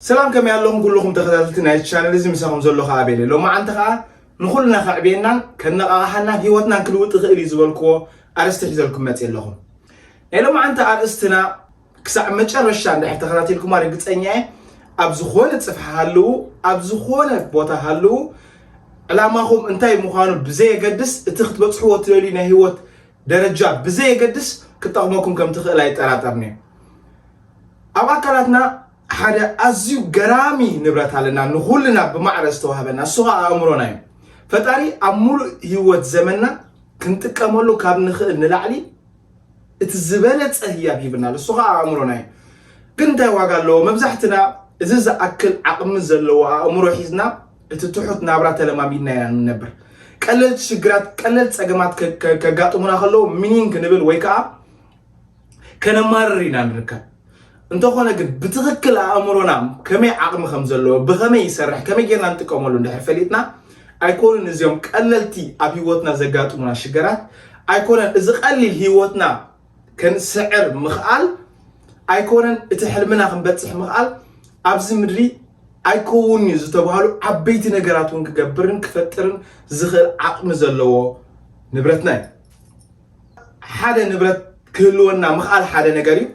ሰላም ከመይ ኣለኹም ኩሉኹም ተኸታተልቲ ናይዚ ቻነል እዚ ምሳኹም ዘሎ ከኣ ኣቤል እየ ሎማዓንቲ ከኣ ንኹልና ከዕብየናን ከነቓቕሓናን ሂወትናን ክልውጥ ይኽእል እዩ ዝበልክዎ ኣርእስቲ ሒዘልኩም መጽየ ኣለኹ ናይ ሎማዓንቲ ኣርእስትና ክሳዕ መጨረሻ እንድሕር ተኸታቲልኩማ ርግጸኛ እየ ኣብ ዝኾነ ጽፍሒ ሃልዉ ኣብ ዝኾነ ቦታ ሃልዉ ዕላማኹም እንታይ ምዃኑ ብዘየገድስ እቲ ክትበፅሕዎ ትደልዩ ናይ ህይወት ደረጃ ብዘየገድስ ክጠቕመኩም ከም ትኽእል ኣይጠራጠርኒ እዩ ኣብ ኣካላትና ሓደ ኣዝዩ ገራሚ ንብረት ኣለና ንኹልና ብማዕረ ዝተዋህበና እሱ ኸዓ ኣእምሮና እዩ ፈጣሪ ኣብ ሙሉእ ህይወት ዘመንና ክንጥቀመሉ ካብ ንኽእል ንላዕሊ እቲ ዝበለፀ ህያብ ሂብና ኣሎ እሱ ኸዓ ኣእምሮና እዩ ግን እንታይ ዋጋ ኣለዎ መብዛሕትና እዚ ዝኣክል ዓቕሚ ዘለዎ ኣእምሮ ሒዝና እቲ ትሑት ናብራ ተለማሚድና ኢና ንነብር ቀለልቲ ሽግራት ቀለል ፀገማት ከጋጥሙና ከለዉ ምኒን ክንብል ወይ ከዓ ከነማርር ኢና ንርከብ እንተኾነ ግን ብትኽክል ኣእምሮና ከመይ ዓቕሚ ከም ዘለዎ ብኸመይ ይሰርሕ ከመይ ጌርና ንጥቀመሉ እንድሕር ፈሊጥና ኣይኮኑን እዚኦም ቀለልቲ ኣብ ህይወትና ዘጋጥሙና ሽገራት ኣይኮነን እዚ ቀሊል ህይወትና ከንስዕር ምኽኣል ኣይኮነን እቲ ሕልምና ክንበፅሕ ምኽኣል ኣብዚ ምድሪ ኣይከውን እዩ ዝተባሃሉ ዓበይቲ ነገራት እውን ክገብርን ክፈጥርን ዝኽእል ዓቕሚ ዘለዎ ንብረትና እዩ ሓደ ንብረት ክህልወና ምኽኣል ሓደ ነገር እዩ።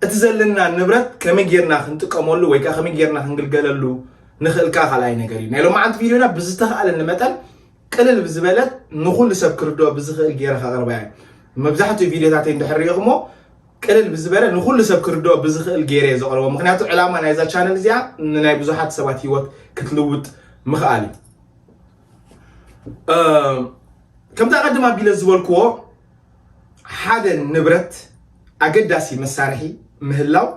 እቲ ዘለና ንብረት ከመይ ጌርና ክንጥቀመሉ ወይ ከዓ ከመይ ጌርና ክንግልገለሉ ንኽእል ከዓ ካልኣይ ነገር እዩ። ናይ ሎማዓንቲ ቪድዮና ብዝተኽኣለኒ መጠን ቅልል ብዝበለት ንኹሉ ሰብ ክርድኦ ብዝኽእል ጌረ ከቕርባ እየ። መብዛሕትኡ ቪድዮታተይ እንድሕር ሪኢኹሞ ቅልል ብዝበለ ንኩሉ ሰብ ክርድኦ ብዝኽእል ገይረ እየ ዘቕርቦ ምክንያቱ ዕላማ ናይዛ ቻነል እዚኣ ንናይ ብዙሓት ሰባት ሂወት ክትልውጥ ምኽኣል እዩ ከምቲ ኣቐድም ኣቢለ ዝበልክዎ ሓደ ንብረት ኣገዳሲ መሳርሒ ምህላው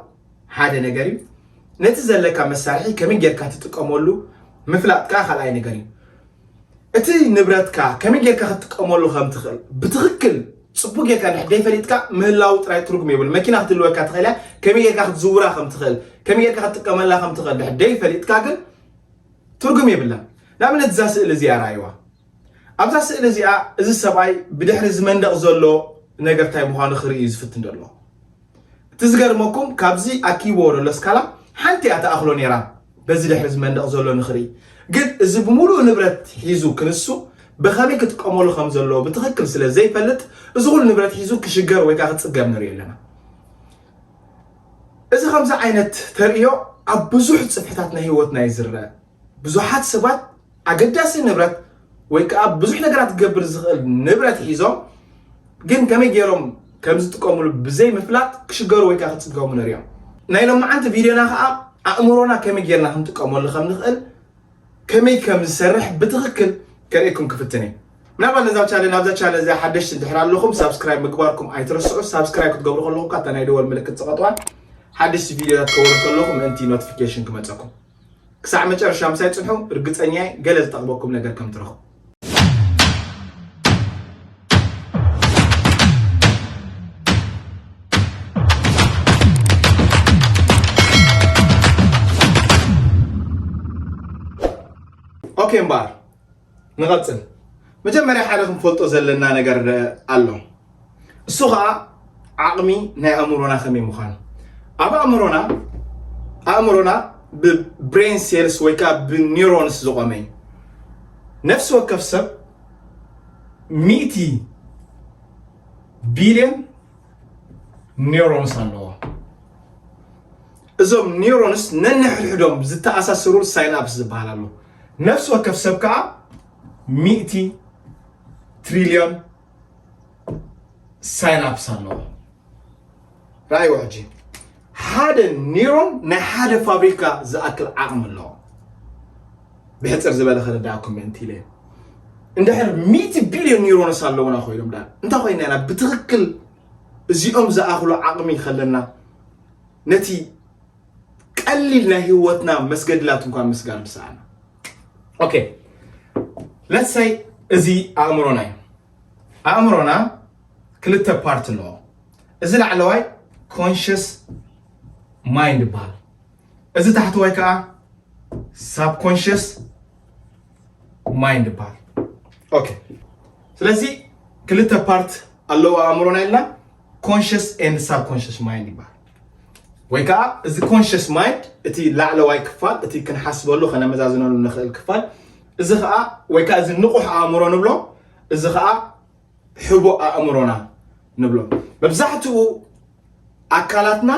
ሓደ ነገር እዩ ነቲ ዘለካ መሳርሒ ከመይ ጌርካ ትጥቀመሉ ምፍላጥ ከዓ ካልኣይ ነገር እዩ እቲ ንብረትካ ከመይ ጌርካ ክትጥቀመሉ ከም ትኽእል ብትኽክል ፅቡቅ ጌርካ ድሕር ዘይፈሊጥካ ምህላው ጥራይ ትርጉም የብሉ መኪና ክትልወካ ትኽእል እያ ከመይ ጌርካ ክትዝውራ ከም ትኽእል ከመይ ጌርካ ክትጥቀመላ ከም ትኽእል ድሕር ዘይፈሊጥካ ግን ትርጉም የብላን። ንኣብነት እዛ ስእሊ እዚኣ ረኣይዋ። ኣብዛ ስእሊ እዚኣ እዚ ሰብኣይ ብድሕሪ እዚ መንደቕ ዘሎ ነገር እንታይ ምዃኑ ክርኢ እዩ ዝፍትን ዘሎ። እቲ ዝገርመኩም ካብዚ ኣኪብዎ ዘሎ ስካላ ሓንቲ እያ ተኣኽሎ ነይራ በዚ ድሕሪ እዚ መንደቕ ዘሎ ንክርኢ። ግን እዚ ብምሉእ ንብረት ሒዙ ክንሱ ብኸመይ ክጥቀመሉ ከም ዘለዎ ብትኽክል ስለ ዘይፈልጥ እዚ ኩሉ ንብረት ሒዙ ክሽገር ወይ ከዓ ክፅገብ ንሪኦ ኣለና። እዚ ከምዚ ዓይነት ተርእዮ ኣብ ብዙሕ ጽፍሕታት ናይ ህይወትና እዩ ዝርኣ። ብዙሓት ሰባት ኣገዳሲ ንብረት ወይ ከኣ ብዙሕ ነገራት ክገብር ዝኽእል ንብረት ሒዞም ግን ከመይ ገይሮም ከም ዝጥቀምሉ ብዘይ ምፍላጥ ክሽገሩ ወይ ከኣ ክጽገሙ ንርእዮም። ናይ ሎማዓንቲ ቪድዮና ከኣ ኣእምሮና ከመይ ገይርና ክንጥቀመሉ ከም ንኽእል፣ ከመይ ከም ዝሰርሕ ብትኽክል ከርእየኩም ክፍትን እየ ምናልባት ነዛ ቻነል ናብዛ ቻነል እዚኣ ሓደሽቲ ድሕር ኣለኹም ሳብስክራይብ ምግባርኩም ኣይትረስዑ ሳብስክራይብ ክትገብሩ ከለኹም ካታ ናይ ደወል ምልክት ፀቐጥዋን ሓደሽቲ ቪድዮታት ከወርድ ከለኹ ምእንቲ ኖቲፊኬሽን ክመፀኩም ክሳዕ መጨረሻ ምሳይ ፅንሑ ርግፀኛ ገለ ዝጠቕመኩም ነገር ከም ትረኽቡ ኦኬ እምበኣር ንቐፅል መጀመርያ ሓደ ክንፈልጦ ዘለና ነገር ኣሎ። እሱ ኸኣ ዓቕሚ ናይ ኣእምሮና ከመይ ምዃኑ ኣብ ኣእምሮና ኣእምሮና ብብሬን ሴልስ ወይ ከዓ ብኒሮንስ ዝቆመ እዩ ነፍሲ ወከፍ ሰብ ሚእቲ ቢልዮን ኒሮንስ ኣለዎ እዞም ኒሮንስ ነንሕድሕዶም ዝተኣሳስሩ ሳይናፕስ ዝበሃል ኣሎ ነፍሲ ወከፍ ሰብ ከዓ ሚእቲ ትሪልዮን ሳይናፕስ ኣለዎ ራእይዎ ሕጂ ሓደ ኒሮን ናይ ሓደ ፋብሪካ ዝኣክል ዓቕሚ ኣለዎ ብሕፅር ዝበለ ክርዳእኩም ምእንቲ ኢለ እንድሕር ሚእቲ ቢልዮን ኒሮንስ ኣለውና ኮይኖም ዳ እንታይ ኮይና ኢና ብትኽክል እዚኦም ዝኣኽሉ ዓቕሚ ከለና ነቲ ቀሊል ናይ ህይወትና መስገድላት እንኳ ምስጋር ምሰኣና ኦኬ ለሰይ እዚ ኣእምሮና እዩ ኣእምሮና ክልተ ፓርት ኣለዎ እዚ ላዕለዋይ ኮንሽስ ማይንድ ይበሃል እዚ ታሕተዋይ ከዓ ሳብ ኮንሽስ ማይንድ ይበሃል ኦኬ ስለዚ ክልተ ፓርት ኣለዎ ኣእምሮና ኢልና ኮንሽስ ኤንድ ሳብ ኮንሽስ ማይንድ ይበሃል ወይ ከዓ እዚ ኮንሽስ ማይንድ እቲ ላዕለዋይ ክፋል እቲ ክንሓስበሉ ከነመዛዝነሉ ንኽእል ክፋል እዚ ከዓ ወይ ከዓ እዚ ንቑሕ ኣእምሮ ንብሎ እዚ ከዓ ሕቡእ ኣእምሮና ንብሎ መብዛሕትኡ ኣካላትና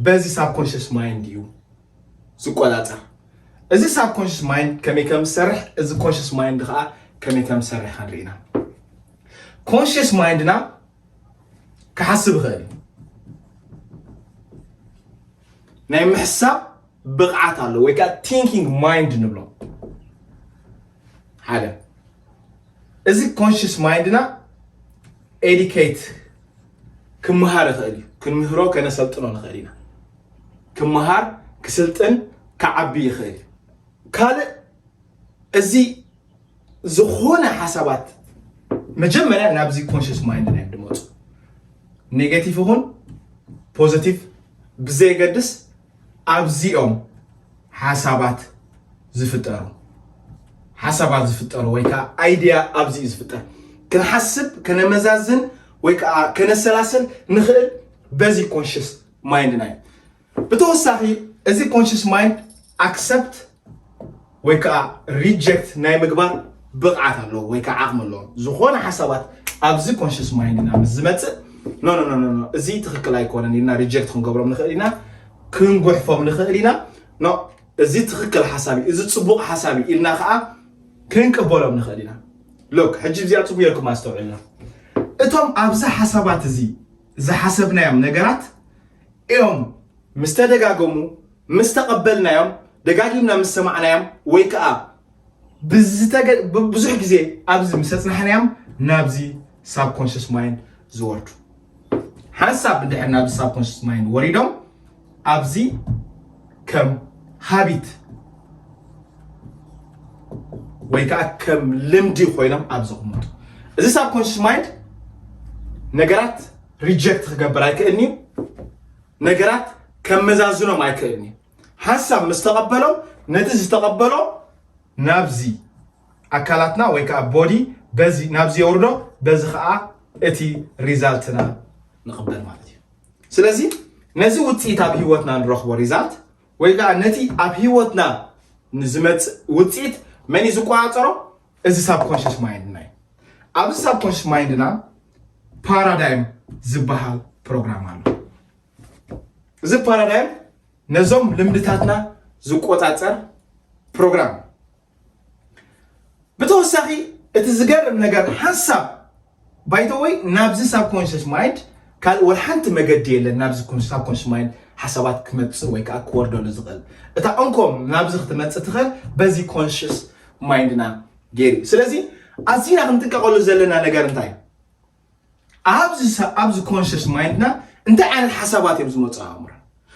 በዚ ሳብ ኮንሽስ ማይንድ እዩ ዝቆፃፀር እዚ ሳብ ኮንሽስ ማይንድ ከመይ ከም ዝሰርሕ እዚ ኮንሽስ ማይንድ ከዓ ከመይ ከም ዝሰርሕ ክንርኢና ኮንሽስ ማይንድና ክሓስብ ይኽእል እዩ ናይ ምሕሳብ ብቕዓት ኣሎ ወይ ከዓ ቲንኪንግ ማይንድ ንብሎ ሓደ እዚ ኮንሽስ ማይንድና ኤዲኬት ክመሃር ይኽእል እዩ ክንምህሮ ከነሰልጥኖ ንኽእል ኢና ክመሃር ክስልጥን ክዓቢ ይኽእል እዩ ካልእ እዚ ዝኾነ ሓሳባት መጀመርያ ናብዚ ኮንሽስ ማይንድ ናይ ድመፁ ኔጌቲቭ ይኹን ፖዘቲቭ ብዘየገድስ ኣብዚኦም ሓሳባት ዝፍጠሩ ሓሳባት ዝፍጠሩ ወይ ከዓ ኣይድያ ኣብዚ እዩ ዝፍጠር ክንሓስብ ከነመዛዝን ወይ ከዓ ከነሰላሰል ንኽእል በዚ ኮንሽስ ማይንድና እዩ ብተወሳኺ እዚ ኮንሽስ ማይንድ ኣክሰፕት ወይ ከዓ ሪጀክት ናይ ምግባር ብቕዓት ኣለዎ ወይ ከዓ ዓቕሚ ኣለዎ ዝኾነ ሓሳባት ኣብዚ ኮንሽስ ማይንድና ምስ ዝመፅእ ኖ ኖ ኖ ኖ እዚ ትክክል ኣይኮነን ኢልና ሪጀክት ክንገብሮም ንኽእል ኢና ክንጉሕፎም ንኽእል ኢና ኖ እዚ ትክክል ሓሳብ እዩ እዚ ፅቡቕ ሓሳብ እዩ ኢልና ከዓ ክንቅበሎም ንኽእል ኢና ሎክ ሕጂ እዚኣ ፅቡቅ ጌርኩም ኣስተውዕልና እቶም ኣብዚ ሓሳባት እዚ ዝሓሰብናዮም ነገራት እዮም። ምስ ተደጋገሙ፣ ምስ ተቐበልናዮም፣ ደጋጊምና ምስ ሰማዕናዮም ወይ ከኣ ብዙሕ ግዜ ኣብዚ ምስ ኣጽናሕናዮም ናብዚ ሳብኮንሽስ ማይንድ ዝወርዱ ሓንሳብ እንድሕር ናብዚ ሳብኮንሽስ ማይንድ ወሪዶም ኣብዚ ከም ሃቢት ወይ ከዓ ከም ልምዲ ኮይኖም ኣብ ዝቕመጡ እዚ ሳብ ኮንሽስ ማይንድ ነገራት ሪጀክት ክገብር ኣይክእልኒ ነገራት ከመዛዝኖም ኣይክእልኒ ሓሳብ ምስ ተቐበሎ ነቲ ዝተቐበሎ ናብዚ ኣካላትና ወይ ከዓ ቦዲ በዚ ናብዚ የውርዶ በዚ ከዓ እቲ ሪዛልትና ንቕበል ማለት እዩ ስለዚ ነዚ ውፅኢት ኣብ ህይወትና ንረኽቦ ሪዛልት ወይ ከዓ ነቲ ኣብ ህይወትና ንዝመፅእ ውፅኢት መን እዩ ዝቆፃፀሮ? እዚ ሳብኮንሽስ ማይንድና እዩ። ኣብዚ ሳብኮንሽስ ማይንድና ፓራዳይም ዝበሃል ፕሮግራም ኣሎ። እዚ ፓራዳይም ነዞም ልምድታትና ዝቆፃፀር ፕሮግራም ብተወሳኺ እቲ ዝገርም ነገር ሓንሳብ ባይተወይ ናብዚ ሳብ ኮንሽስ ማይንድ ካልእ ወላ ሓንቲ መገዲ የለን ናብዚ ሳብ ኮንሽስ ማይንድ ሓሳባት ክመፅእ ወይ ከዓ ክወርደሉ ዝኽእል እታ እንኮም ናብዚ ክትመፅእ ትኽእል በዚ ኮንሽስ ማይንድና ገይሩ ስለዚ ኣዝና ክንጥቀቐሉ ዘለና ነገር እንታይ ኣብዚ ኣብዚ ኮንሽስ ማይንድና እንታይ ዓይነት ሓሳባት እዮም ዝመፁ ኣእምሮ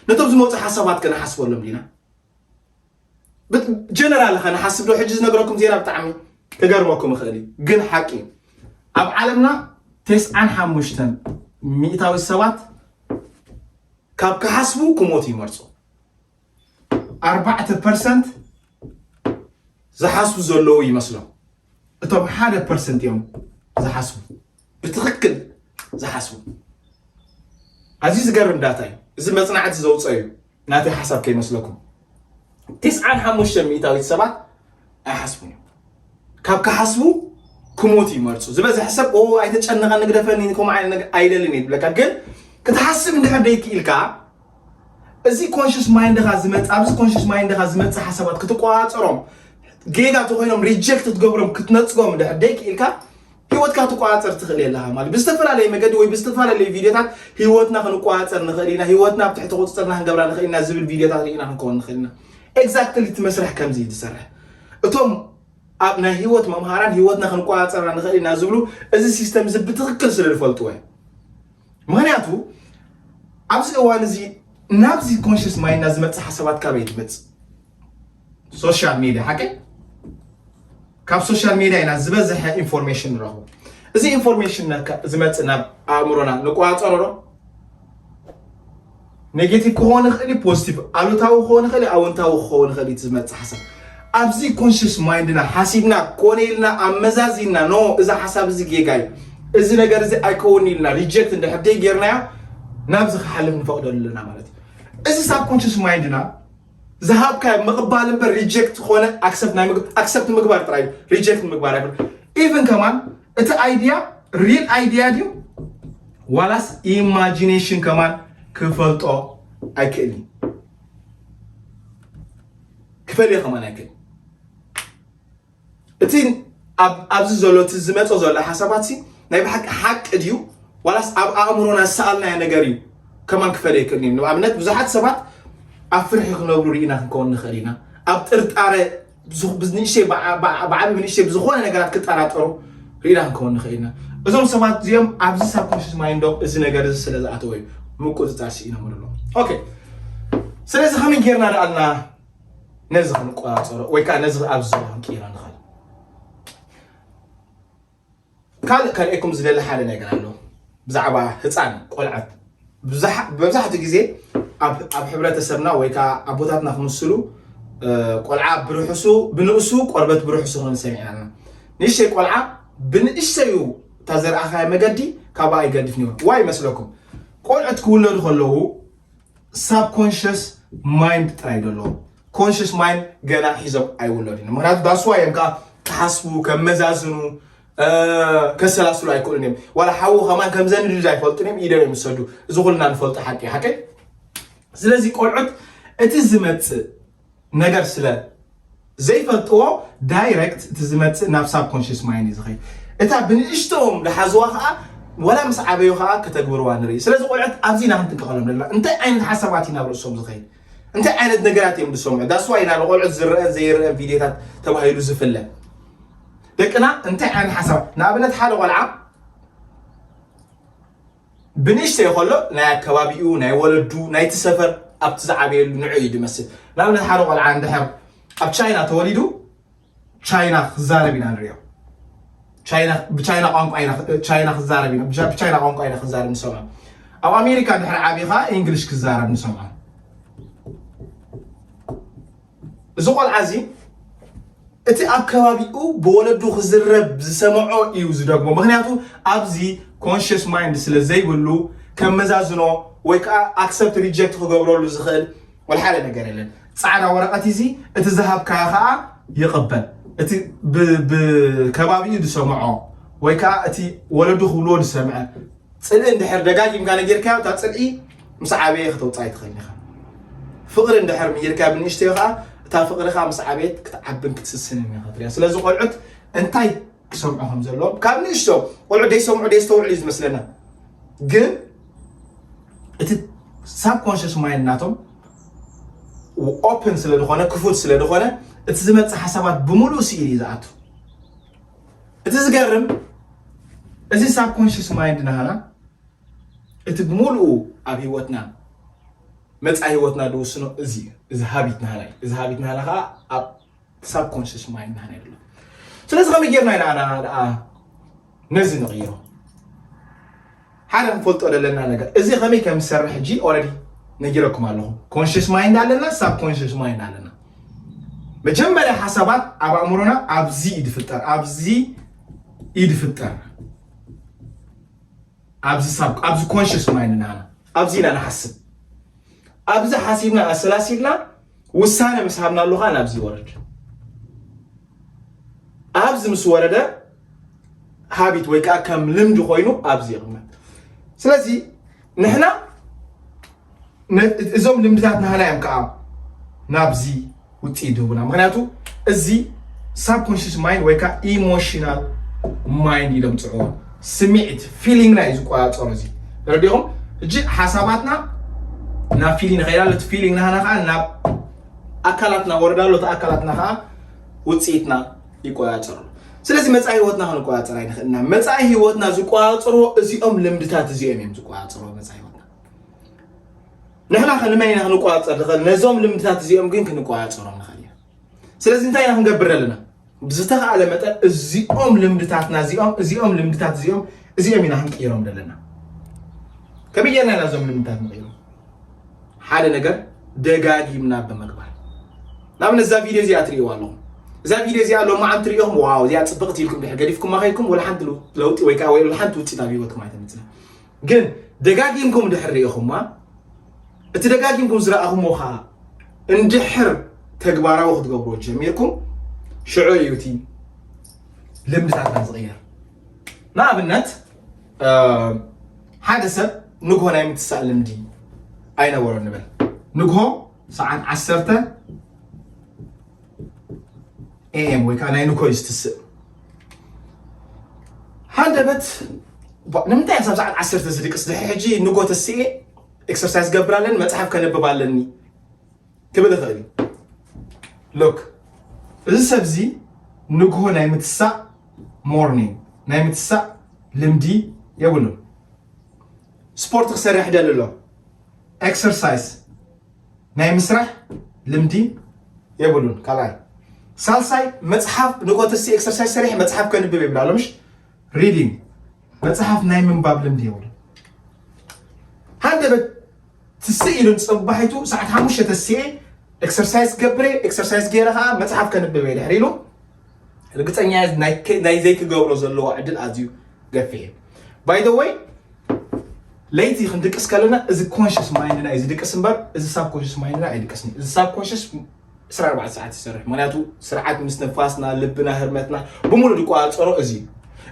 ነቶም ዝመፁ ሓሳባት ከነሓስበሎም ኢና ጀነራል ኸ ንሓስብ ዶ ሕጂ ዝነገረኩም ዜና ብጣዕሚ ክገርመኩም ይኽእል እዩ ግን ሓቂ እዩ ኣብ ዓለምና ቴስዓን ሓሙሽተን ሚእታዊ ሰባት ካብ ክሓስቡ ክሞት ይመርፁ ኣርባዕተ ፐርሰንት ዝሓስቡ ዘለዉ ይመስሎም እቶም ሓደ ፐርሰንት እዮም ዝሓስቡ ብትኽክል ዝሓስቡ ኣዝዩ ዝገርም ዳታ እዩ እዚ መፅናዕቲ ዘውፀ እዩ ናተይ ሓሳብ ከይመስለኩም ትስዓን ሓሙሽተ ሚእታዊት ሰባት ኣይሓስቡን እዮም ካብ ክሓስቡ ክሞት ይመርፁ ዝበዝሐ ሰብ ኦ ኣይተጨነቐ ንግደፈኒ ከምኡ ዓይነት ነገር ኣይደልን እዩ ብለካ ግን ክትሓስብ እንድሕር ደይክኢልካ እዚ ኮንሽስ ማይንድኻ ዝመፅእ ኣብዚ ኮንሽስ ማይንድኻ ዝመፅእ ሓሳባት ክትቆፃፀሮም ጌጋ ተኮይኖም ሪጀክት ክትገብሮም ክትነፅጎም እንድሕር ደይክኢልካ ህይወትካ ትቆፃፀር ትኽእል የለኻ ማለት ብዝተፈላለየ መገዲ ወይ ብዝተፈላለዩ ቪድዮታት ህይወትና ክንቆፃፀር ንኽእል ኢና ህይወትና ኣብ ትሕቲ ቁፅፅርና ክንገብራ ንኽእል ኢና ዝብል ቪድዮታት ርኢና ክንከውን ንኽእል ኢና ኤግዛክትሊ እቲ መስርሕ ከምዚ እዩ ዝሰርሕ እቶም ኣብ ናይ ህይወት መምሃራን ህይወትና ክንቆፃፀራ ንኽእል ኢና ዝብሉ እዚ ሲስተም እዚ ብትኽክል ስለ ዝፈልጥዎ እዩ ምክንያቱ ኣብዚ እዋን እዚ ናብዚ ኮንሽስ ማይና ዝመፅእ ሓሳባት ካበይ ትመፅእ ሶሻል ሚድያ ሓቂ ካብ ሶሻል ሚድያ ኢና ዝበዝሐ ኢንፎርሜሽን ንረኽቡ እዚ ኢንፎርሜሽን ዝመፅእ ናብ ኣእምሮና ንቆፃፀሮ ዶ ኔጌቲቭ ክኸውን ይኽእል እዩ ፖዚቲቭ ኣሉታዊ ክኸውን ይኽእል እዩ ኣውንታዊ ክኸውን ይኽእል እዩ ዝመፅእ ሓሳብ ኣብዚ ኮንሽስ ማይንድና ሓሲብና ኮነ ኢልና ኣመዛዚና ኖ እዚ ሓሳብ እዚ ጌጋ እዩ እዚ ነገር እዚ ኣይከውን ኢልና ሪጀክት እንድሕር ጌርናዮ ናብዚ ክሓልፍ ንፈቕደሉ ኣለና ማለት እዩ እዚ ሳብ ኮንሽስ ማይንድና ዝሃብካዮ ምቕባል እምበር ሪጀክት ዝኾነ ኣክሰፕት ናይ ምግብ ኣክሰፕት ምግባር ጥራይ እዩ ሪጀክት ምግባር ኣይኮነ ኢቭን ከማን እቲ ኣይድያ ሪል ኣይድያ ድዩ ዋላስ ኢማጂኔሽን ከማን ክፈልጦ ኣይክእልን ክፈልዮ ከማን ኣይክእል እቲ ኣብ ኣብዚ ዘሎ እቲ ዝመጸ ዘሎ ሓሳባትሲ ናይ ብሓቂ ሓቂ ድዩ ዋላስ ኣብ ኣእምሮና ዝሰኣልናዮ ነገር እዩ ከማን ክፈለ ይክእል እዩ። ንኣብነት ብዙሓት ሰባት ኣብ ፍርሒ ክነብሩ ርኢና ክንከውን ንኽእል ኢና። ኣብ ጥርጣረ ብንእሽተይ ብዓቢ ብንእሽተይ ብዝኾነ ነገራት ክጠራጠሩ ርኢና ክንከውን ንኽእል ኢና። እዞም ሰባት እዚኦም ኣብዚ ሳብኮንሽስ ማይንዶም እዚ ነገር እዚ ስለ ዝኣተወ እዩ ምቁጽጻር ስኢኖም ኣለዉ። ኦኬ ስለዚ ከመይ ጌርና ደኣልና ነዚ ክንቆፃፀሮ ወይ ከዓ ነዚ ኣብዚ ዘሎ ክንቅይሮ ንኽእል ካልእ ከርእየኩም ዝደሊ ሓደ ነገር ኣሎ ብዛዕባ ህፃን ቆልዓት መብዛሕትኡ ግዜ ኣብ ሕብረተሰብና ወይ ከዓ ኣቦታትና ክምስሉ ቆልዓ ብርሑሱ ብንእሱ ቆርበት ብርሑሱ ክብል ሰሚዕና ኣለና ንእሽተይ ቆልዓ ብንእሽተዩ እታ ዘርኣኻዮ መገዲ ካብኣ ይገድፍ ነይሩ ዋይ ይመስለኩም ቆልዑት ክውለዱ ከለዉ ሳብ ኮንሽስ ማይንድ ጥራይ ደሎ ኮንሽስ ማይንድ ገና ሒዞም ኣይውለዱን ምክንያቱ ዳስዋ እዮም ከዓ ክሓስቡ ከመዛዝኑ ከሰላስሉ ኣይክእሉን እዮም ዋላ ሓዉ ከማን ከምዘንድድ ኣይፈልጡን እዮም ኢደም እዮም ዝሰዱ እዚ ኩልና ንፈልጡ ሓቂ ሓቂ ስለዚ ቆልዑት እቲ ዝመፅእ ነገር ስለ ዘይፈልጥዎ ዳይረክት እቲ ዝመፅእ ናብ ሳብ ኮንሽስ ማይንድ እዩ ዝኸይድ እታ ብንእሽተኦም ዝሓዝዋ ከዓ ወላ ምስ ዓበዩ ከዓ ከተግብርዋ ንርኢ ስለዚ ቆልዑት ኣብዚ ኢና ክንጥንቀቐሎም ዘለና እንታይ ዓይነት ሓሳባት እዩ ናብ ርእሶም ዝኸይድ እንታይ ዓይነት ነገራት እዮም ዝሰምዑ ዳስዋ ኢና ንቆልዑት ዝረአን ዘይረአን ቪድዮታት ተባሂሉ ዝፍለ ደቅና እንታይ ዓይነት ሓሳባት ንኣብነት ሓደ ቆልዓ ብንእሽተይ ከሎ ናይ ኣከባቢኡ ናይ ወለዱ ናይቲ ሰፈር ኣብቲ ዝዓበየሉ ንዑ እዩ ዝመስል ንኣብነት ሓደ ቆልዓ እንድሕር ኣብ ቻይና ተወሊዱ ቻይና ክዛረብ ኢና ንሪኦ ብቻይና ቋንቋ ቻይና ክዛረብ ኢና ብቻይና ቋንቋ ኢና ክዛረብ ንሰምዖ ኣብ ኣሜሪካ ድሕሪ ዓብኻ እንግሊሽ ክዛረብ ንሰምዖ እዚ ቆልዓ እዚ እቲ ኣብ ከባቢኡ ብወለዱ ክዝረብ ዝሰምዖ እዩ ዝደግሞ ምክንያቱ ኣብዚ ኮንሽስ ማይንድ ስለ ዘይብሉ ከም መዛዝኖ ወይ ከዓ ኣክሰፕት ሪጀክት ክገብረሉ ዝኽእል ወልሓደ ነገር የለን ፃዕዳ ወረቀት እዚ እቲ ዝሃብካ ከዓ ይቕበል እቲ ብከባቢኡ ዝሰምዖ ወይ ከዓ እቲ ወለዱ ክብልዎ ዝሰምዐ ጽልኢ እንድሕር ደጋጊምካ ነጊርካዮ እታ ጽልኢ ምስ ዓበየ ከተውጽኣ ኣይትኽእልን ኢኻ። ፍቕሪ እንድሕር ምሂርካዮ ብንእሽተዮ ከኣ እታ ፍቕሪ ከኣ ምስ ዓበየት ክትዓብን ክትስስንን ኢኻ ትርእያ። ስለዚ ቆልዑት እንታይ ክሰምዑ ከም ዘለዎም ካብ ንእሽቶ ቆልዑት ደይሰምዑ ደየስተውዕሉ እዩ ዝመስለና ግን እቲ ሳብ ኮንሽስ ማይንድ ናቶም ኦፕን ስለ ዝኾነ ክፉት ስለ ዝኾነ እቲ ዝመጽእ ሓሳባት ብምሉእ ስኢል እዩ ዝኣቱ እቲ ዝገርም እዚ ሳብኮንሽስ ማይንድ ናህና እቲ ብምሉኡ ኣብ ህይወትና መፃ ህይወትና ዝውስኖ እዚ እዚ ሃቢት ናህና እዩ እዚ ሃቢት ናህና ከዓ ኣብ ሳብኮንሽስ ማይንድ ናህና ይብሎ ስለዚ ከመይ ጌርና ኢና ነዚ ንቕይሮ ሓደ ክንፈልጦ ዘለና ነገር እዚ ከመይ ከም ዝሰርሕ ሕጂ ኦረዲ ነጊረኩም ኣለኹ ኮንሽስ ማይንድ ኣለና ሳብ ኮንሽስ ማይንድ ኣለና መጀመርያ ሓሳባት ኣብ ኣእምሮና ኣብዚ እዩ ዝፍጠር ኣብዚ እዩ ዝፍጠር ኣብዚ ሳብ ኣብዚ ኮንሽስ ማይንድ ናና ኣብዚ ኢና ንሓስብ ኣብዚ ሓሲብና ኣሰላሲልና ውሳነ ምስ ሃብናሉ ከዓ ናብዚ ይወርድ ኣብዚ ምስ ወረደ ሃቢት ወይ ከዓ ከም ልምዲ ኮይኑ ኣብዚ ይቕመጥ ስለዚ ንሕና እዞም ልምድታት ናህና እዮም ከዓ ናብዚ ውፅኢት ዝህቡና ምክንያቱ እዚ ሳብኮንሽስ ማይንድ ወይ ከዓ ኢሞሽናል ማይንድ ኢሎም ፅዕዎ ስሚዒት ፊሊንግና እዩ ዝቆፃፀሮ እዚ ረዲኹም እጂ ሓሳባትና ናብ ፊሊንግ ንኸይድ ኣሎ እቲ ፊሊንግ ናህና ከዓ ናብ ኣካላትና ወርዳ ኣሎ እቲ ኣካላትና ከዓ ውፅኢትና ይቆፃፀሩ ስለዚ መፃኢ ህይወትና ክንቆፃፀር ኣይንኽእልና መፃኢ ህይወትና ዝቆፃፀርዎ እዚኦም ልምድታት እዚኦም እዮም ዝቆፃፀርዎ መፃኢ ህይወትና ንሕና ከንመን ኢና ክንቆፃፀር ንኽእል ነዞም ልምድታት እዚኦም ግን ክንቆፃፀሮም ንኽእል ስለዚ እንታይ ኢና ክንገብር ኣለና ብዝተኸኣለ መጠን እዚኦም ልምድታትና እዚኦም እዚኦም ልምድታት እዚኦም እዚኦም ኢና ክንቅይሮም ዘለና ከመይ ጌርና ኢና እዞም ልምድታት ንቕይሮም ሓደ ነገር ደጋጊምና ብምግባር ንኣብነት እዛ ቪድዮ እዚኣ ትርእይዋ ኣለኹም እዛ ቪድዮ እዚኣ ሎሚ ዓም ትርእኹም ዋው እዚኣ ፅብቕቲ ኢልኩም ድሕር ገዲፍኩም ኣኸይኩም ወላ ሓንቲ ለውጢ ወይ ከዓ ወይ ሓንቲ ውፅኢት ኣብ ሂወትኩም ኣይተምፅእ ግን ደጋጊምኩም ድሕር ርኢኹማ እቲ ደጋጊምኩም ዝረኣኹሞ ከዓ እንድሕር ተግባራዊ ክትገብሮ ጀሚርኩም ሽዑ እዩ እቲ ልምድታትና ዝቕየር ንኣብነት ሓደ ሰብ ንግሆ ናይ ምትሳእ ልምዲ ኣይነበሮ ንበል ንግሆ ሰዓት ዓሰርተ ኤኤም ወይ ከዓ ናይ ንኮይ ዝትስእ ሃንደበት ንምንታይ ክሳብ ሰዓት ዓሰርተ ዝድቅስ ድሕሪ ሕጂ ንጎ ተስኤ ኤክሰርሳይዝ ገብር ኣለኒ መፅሓፍ ከንብብ ኣለኒ ክብል ይኽእል እዩ ሎክ እዚ ሰብ እዚ ንግሆ ናይ ምትሳእ ሞርኒንግ ናይ ምትሳእ ልምዲ የብሉን ስፖርት ክሰርሕ ደሊ ኣሎ ኤክሰርሳይስ ናይ ምስራሕ ልምዲ የብሉን ካልኣይ ሳልሳይ መፅሓፍ ንቆተሲ ኤክሰርሳይስ ሰሪሕ መፅሓፍ ከንብብ የብላ ሎምሽ ሪዲንግ መፅሓፍ ናይ ምንባብ ልምዲ የብሉ ሃንደበት ትስእ ኢሉን ፅባሒቱ ሰዓት ሓሙሽተ ተስኤ ኤክሰርሳይስ ገብረ ኤክሰርሳይስ ገይረ ከዓ መፅሓፍ ከንብብ እየ ድሕሪ ኢሉ ርግፀኛ እየ ናይ ዘይክገብሮ ዘለዎ ዕድል ኣዝዩ ገፊሕ እዩ ባይ ዘ ወይ ለይቲ ክንድቅስ ከለና እዚ ኮንሽስ ማይንድና እዩ ዝድቅስ እምበር እዚ ሳብ ኮንሽስ ማይንድና ኣይድቅስን እዩ እዚ ሳብ ኮንሽስ 24 ሰዓት ይሰርሕ ምክንያቱ ስርዓት ምስ ንፋስና ልብና ህርመትና ብምሉእ ዝቆፃፀሮ እዚ እዩ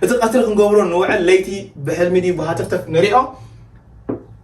እቲ ቀትሪ ክንገብሮ ንውዕል ለይቲ ብሕልሚ ድዩ ብሃተፍተፍ ንሪኦ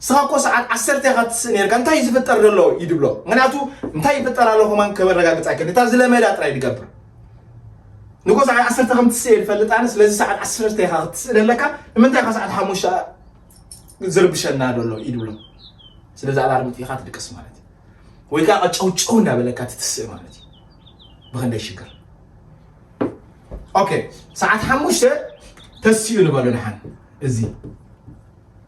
ንስኻ እኮ ሰዓት ዓሰርተ ኢኻ ትስእ ኔርካ እንታይ እዩ ዝፍጠር ዘሎ እዩ ድብሎ ምክንያቱ እንታይ ይፍጠር ኣሎ ከማን ከበረጋግፅ ኣይክእል እታ ዝለመዳ ጥራይ ድገብር ንጎ ሰዓት ዓሰርተ ከም ትስእ እየ ዝፈልጥ ኣነ ስለዚ ሰዓት ዓሰርተ ኢኻ ክትስእ ዘለካ ንምንታይ ኢኻ ሰዓት ሓሙሽተ ዝርብሸና ዘሎ እዩ ድብሎ ስለዚ ኣላርም ጥኢኻ ትድቅስ ማለት እዩ ወይ ከዓ ቀጨውጨው እናበለካ ትትስእ ማለት እዩ ብክንደይ ሽግር ኦኬ ሰዓት ሓሙሽተ ተስኡ ንበሎ ንሓን እዚ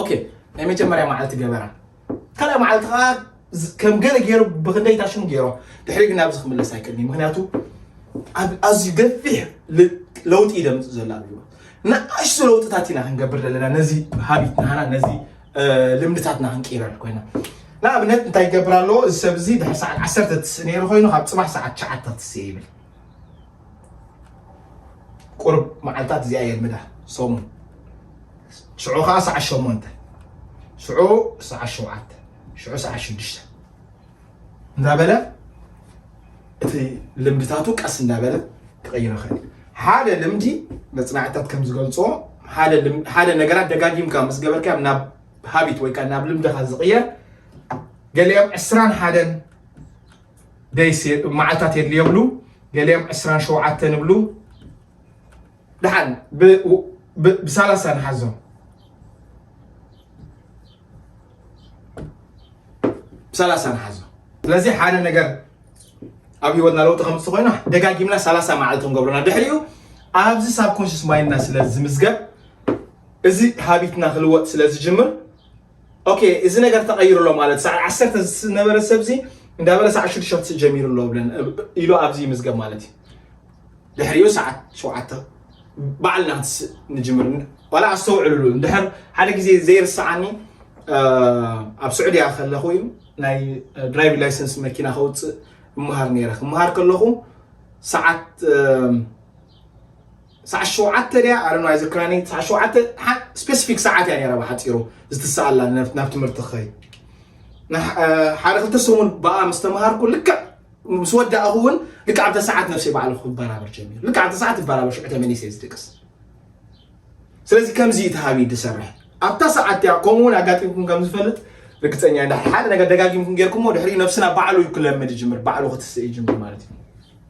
ኦኬ ናይ መጀመርያ መዓልቲ ገበራ ካልኣይ መዓልቲ ከዓ ከም ገለ ገይሩ ብክንደይ ታሽሙ ገይሮ ድሕሪ ግን ናብዚ ክምለስ ኣይክእልኒ ምክንያቱ ኣብ ኣዝዩ ገፊሕ ለውጢ እዩ ደምፅ ዘሎ ኣብ ህይወት ንኣሽቱ ለውጥታት ኢና ክንገብር ዘለና ነዚ ሃቢት ናሃና ነዚ ልምድታትና ክንቅይረል ኮይና ንኣብነት እንታይ ይገብር ኣለዎ እዚ ሰብ እዚ ድሕሪ ሰዓት ዓሰርተ ትስእ ነይሩ ኮይኑ ካብ ፅባሕ ሰዓት ትሽዓተ ክትስእ ይብል ቁሩብ መዓልታት እዚኣ የልምዳ ሰሙን ሽዑ ከዓ ሰዓት ሸሞንተ ሽዑ ሰዓት ሸውዓተ ሽዑ ሰዓት ሽዱሽተ እንዳበለ እቲ ልምድታቱ ቀስ እንዳበለ ክቕይር ይኽእል ሓደ ልምዲ መፅናዕትታት ከም ዝገልፆ ሓደ ነገራት ደጋጊምካ ምስ ገበርካ ናብ ሃቢት ወይ ከዓ ናብ ልምድኻ ዝቕየር ገሊኦም ዕስራን ሓደን ደይስ መዓልታት የድልዮ ይብሉ ገሊኦም ዕስራን ሸውዓተን ይብሉ ደሓን ብሳላሳ ንሓዞ ብሳላሳ ንሓዞ ስለዚ ሓደ ነገር ኣብ ህይወትና ለውጢ ከምፅ ኮይና ደጋጊምና ሳላሳ መዓልቲ ክንገብረና ድሕሪኡ ኣብዚ ሳብኮንሽስ ማይንድና ስለ ዝምዝገብ እዚ ሃቢትና ክልወጥ ስለ ዝጅምር ኦኬ እዚ ነገር ተቐይሩ ኣሎ ማለት ሰዓት ዓሰርተ ዝነበረ ሰብዚ እንዳበለ ሰዓት ሽዱሽተ ክትስእ ጀሚሩ ኣሎ ብለን ኢሉ ኣብዚ ይምዝገብ ማለት እዩ ድሕሪኡ ሰዓት ሸውዓተ ባዕልና ክትስእ ንጅምር ዋላ ኣስተውዕልሉ እንድሕር ሓደ ግዜ ዘይርስዓኒ ኣብ ስዑድያ ከለኹ እዩ ናይ ድራይቭ ላይሰንስ መኪና ከውፅእ እመሃር ነይረ ክመሃር ከለኹ ሰዓት ሰዓት ሸውዓተ ድያ ኣረኖ ኣይዝክራኒ ሰዓት ሸውዓተ ስፔሲፊክ ሰዓት እያ ነይራ ብሓፂሩ ዝትሰኣላ ናብ ትምህርቲ ክኸይድ ሓደ ክልተ ሰሙን ብኣ ምስ ተምሃርኩ ልክዕ ምስ ወዳእኹ እውን ልክዕ ኣብታ ሰዓት ነፍሰይ ባዕሉ ክበራበር ጀሚሩ ልክዕ ኣብታ ሰዓት ይበራበር ሽዑ ተመሊሰ ዝድቅስ ስለዚ ከምዚ እዩ ተሃቢ ዝሰርሕ ኣብታ ሰዓት እያ ከምኡ እውን ኣጋጢምኩም ከም ዝፈልጥ ርግፀኛ ሓደ ነገር ደጋጊምኩም ጌርኩሞ ድሕሪኡ ነብስና ባዕሉ እዩ ክለምድ ይጅምር ባዕሉ ክትስእ ይጅምር ማለት እዩ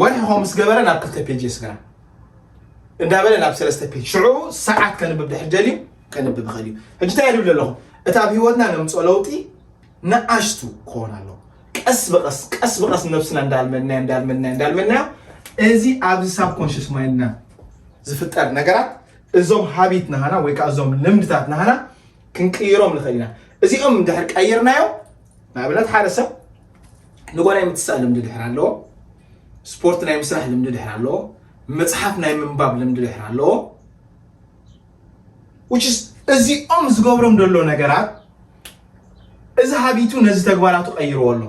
ወርሒ ከምኡ ምስ ገበረ ናብ ክልተ ፔጅ የስግራ እንዳበለ ናብ ሰለስተ ፔጅ ሽዑ ሰዓት ከንብብ ድሕር ደልዩ ከንብብ ይኽእል እዩ ሕጂ እንታይ ይብል ኣለኹ እቲ ኣብ ህይወትና ነምፅኦ ለውጢ ንኣሽቱ ክኾን ኣለዎ ቀስ ብቀስ ቀስ ብቀስ ነብስና እንዳልመድናዮ እንዳልመድናዮ እንዳልመድናዮ እዚ ኣብዚ ሳብ ኮንሽስ ማይንድና ዝፍጠር ነገራት እዞም ሃቢት ናሃና ወይ ከዓ እዞም ልምድታት ናሃና ክንቅይሮም ንኽእል ኢና እዚኦም እንድሕር ቀይርናዮ ንኣብነት ሓደ ሰብ ንጎ ናይ ምትሳእ ልምዲ ድሕር ኣለዎ ስፖርት ናይ ምስራሕ ልምዲ ድሕር ኣለዎ መፅሓፍ ናይ ምንባብ ልምዲ ድሕር ኣለዎ እዚኦም ዝገብሮም ዘሎ ነገራት እዚ ሃቢቱ ነዚ ተግባራቱ ቀይርዎ ኣሎ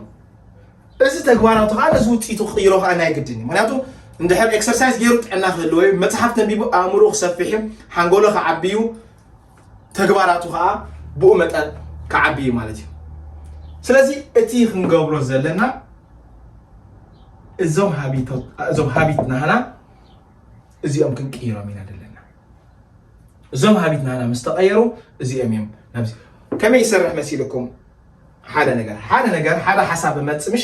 እዚ ተግባራቱ ከዓ ነዚ ውፅኢቱ ክቅይሮ ከዓ ናይ ግድን እዩ ምክንያቱ እንድሕር ኤክሰርሳይዝ ገይሩ ጥዕና ክህልዎ እዩ መፅሓፍ ተንቢቡ ኣእምሮ ክሰፍሕ እዩ ሓንጎሎ ክዓቢ እዩ ተግባራቱ ከዓ ብኡ መጠን ክዓቢ እዩ ማለት እዩ ስለዚ እቲ ክንገብሮ ዘለና እዞም ሃቢት ናህና እዚኦም ክንቅይሮም ኢና ዘለና እዞም ሃቢት ናህና ምስ ተቐየሩ እዚኦም እዮም ናብዚ ከመይ ይሰርሕ መሲልኩም ሓደ ነገር ሓደ ነገር ሓደ ሓሳብ መፅምሽ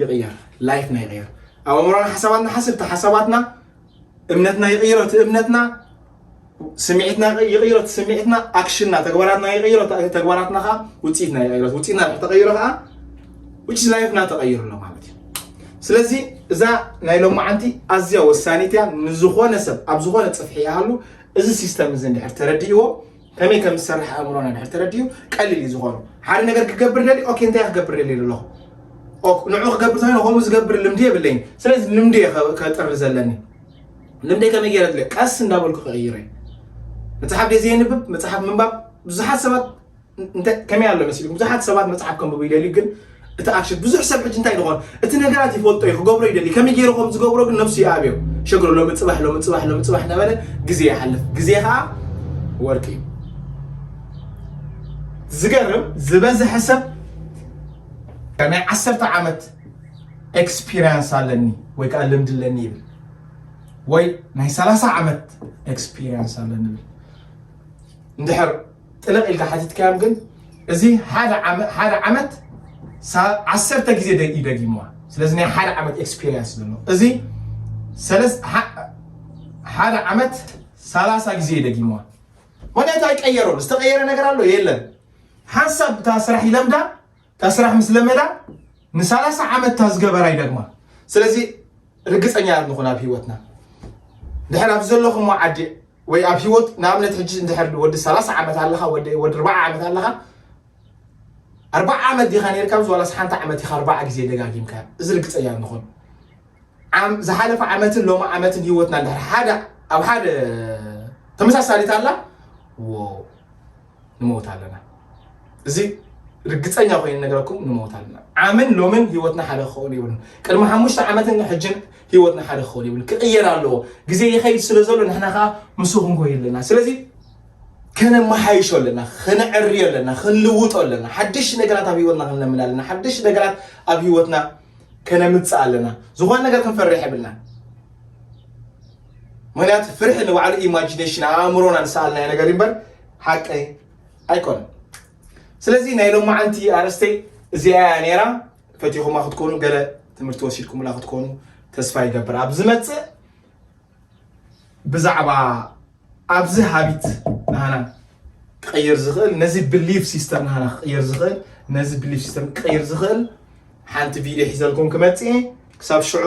ይቕየር ላይፍና ይቕየር ኣእምሮና ሓሳባትና ሓስብቲ ሓሳባትና እምነትና ይቕይሮ እቲ እምነትና ስምዒትና ይቕይሮ እቲ ስምዒትና ኣክሽንና ተግባራትና ይቕይሮ ተግባራትና ከዓ ውፅኢትና ይቕይሮ ውፅኢትና ተቐይሮ ከዓ ውጭ ላይፍና ተቐይሩ ኣሎ ማለት እዩ ስለዚ እዛ ናይ ሎማዓንቲ ኣዝያ ወሳኒት እያ ንዝኾነ ሰብ ኣብ ዝኾነ ፅፍሒ ይሃሉ እዚ ሲስተም እዚ እንድሕር ተረዲእዎ ከመይ ከም ዝሰርሕ ኣእምሮና ድሕር ተረዲኡ ቀሊል እዩ ዝኾኑ ሓደ ነገር ክገብር ደሊ ኦኬ እንታይ ክገብር ደሊ ኣለኹ ንዑ ክገብር ተኮይነ ከምኡ ዝገብር ልምዲ የብለይን ስለዚ ልምዲ እየ ከጥሪ ዘለኒ ልምዲ ከመይ ገይረ ድለ ቀስ እንዳበልኩ ክቕይረ መፅሓፍ ደይ ዘየንብብ መፅሓፍ ምንባብ ብዙሓት ሰባት ከመይ ኣሎ መሲሉ ብዙሓት ሰባት መፅሓፍ ከንብቡ ይደልዩ ግን እቲ ኣክሽን ብዙሕ ሰብ ሕጂ እንታይ ድኾን እቲ ነገራት ይፈልጦ እዩ ክገብሮ ይደሊ ከመይ ገይሩ ከም ዝገብሮ ግን ነብሱ ይኣብዮ ሸግሮ ሎሚ ፅባሕ ሎሚ ፅባሕ ሎሚ ፅባሕ እናበለ ግዜ ይሓልፍ ግዜ ከዓ ወርቂ እዩ ዝገርም ዝበዝሐ ሰብ ናይ ዓሰርተ ዓመት ኤክስፒሪንስ ኣለኒ ወይ ከዓ ልምዲ ኣለኒ ይብል ወይ ናይ ሰላሳ ዓመት ኤክስፒሪንስ ኣለኒ ይብል እንድሕር ጥልቕ ኢልካ ሓቲትካዮም ግን እዚ ሓደ ዓመት ሓደ ዓመት ዓሰርተ ግዜ ደጊ ደጊምዋ ስለዚ ናይ ሓደ ዓመት ኤክስፒሪየንስ ዘሎ እዚ ሰለስ ሓደ ዓመት ሰላሳ ግዜ ደጊምዋ ወደታ ይቀየሮ ዝተቀየረ ነገር ኣሎ የለን ሓንሳብ እታ ስራሕ ይለምዳ እታ ስራሕ ምስ ለመዳ ንሳላሳ ዓመት እታ ዝገበራ ይደግማ ስለዚ ርግፀኛ ንኹን ኣብ ሂወትና ድሕር ኣብ ዘለኹሞ ዓዲ ወይ ኣብ ሂወት ንኣብነት ሕጂ እንድሕር ወዲ ሰላሳ ዓመት ኣለኻ ወዲ ኣርባዓ ዓመት ኣለኻ ኣርባዓ ዓመት ዲኻ ነርካ ምስ ዋላስ ሓንቲ ዓመት ኢኻ ኣርባዓ ግዜ ደጋጊምካ እዚ ርግፀኛ ንኹን ዝሓለፈ ዓመትን ሎሚ ዓመትን ሂወትና እንድሕር ሓደ ኣብ ሓደ ተመሳሳሊት ኣላ ንመውት ኣለና እዚ ርግፀኛ ኮይኑ ነገረኩም ንመውት ኣለና ዓምን ሎምን ሂወትና ሓደ ክኸውን ይብሉን ቅድሚ ሓሙሽተ ዓመትን ሕጅን ሂወትና ሓደ ክኸውን ይብሉን ክቕየር ኣለዎ ግዜ ይኸይድ ስለ ዘሎ ንሕና ከዓ ምስ ክንጎይ ኣለና ስለዚ ከነመሓይሾ ኣለና ከነዕርዮ ኣለና ክንልውጦ ኣለና ሓድሽ ነገራት ኣብ ሂወትና ክንለምድ ኣለና ሓድሽ ነገራት ኣብ ሂወትና ከነምፅእ ኣለና ዝኾነ ነገር ክንፈርሕ የብልና ምክንያቱ ፍርሒ ንባዕሉ ኢማጂነሽን ኣብ ኣእምሮና ንሰኣልናዮ ነገር እዩ እምበር ሓቂ ኣይኮነን ስለዚ ናይ ሎማዓንቲ ኣረስተይ እዚኣ እያ ነይራ ፈቲኹማ ክትኮኑ ገለ ትምህርቲ ወሲድኩምላ ክትኮኑ ተስፋ ይገብር ኣብ ዝመፅእ ብዛዕባ ኣብዚ ሃቢት ናህና ክቕይር ዝኽእል ነዚ ብሊፍ ሲስተም ናህና ክቕይር ዝኽእል ነዚ ብሊፍ ሲስተም ክቕይር ዝኽእል ሓንቲ ቪድዮ ሒዘልኩም ክመፅእ ክሳብ ሽዑ